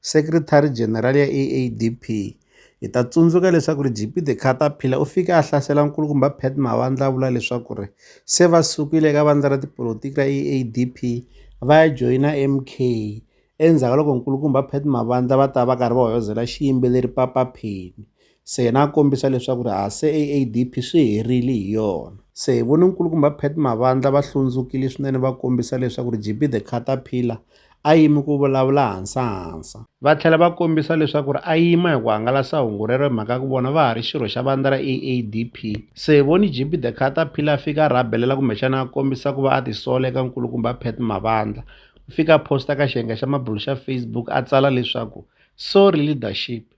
Secretary-General ya AADP, Hi ta tsundzuka leswaku ri GP de Caterpillar u fike a hlasela nkulukumba Pat Mavandla a vula leswaku ri se va sukile eka vandla ra tipolitiki ra AADP va ya joyina MK endzhaku ka loko nkulukumba Pat Mavandla va ta va karhi va hoyozela xiyimbeleri Papa Penny Se yena a kombisa leswaku ri ha se AADP swi herile hi yona. Se hi vone nkulukumba Pat Mavandla va hlundzukile swinene va kombisa leswaku ri JB the Caterpillar a yimi ku vulavula hansa-hansa. Va tlhela va kombisa leswaku ri a yima hi ku hangalasa hungu rero hi mhaka ya ku vona va ha ri xirho xa vandla ra AADP. Se hi vone JB the Caterpillar a fika a rhabelela kumbexana a kombisa ku va a tisola eka nkulukumba Pat Mavandla. U fike a posta ka xiyenge xa mabulo xa Facebook a tsala leswaku, Sorry leadership.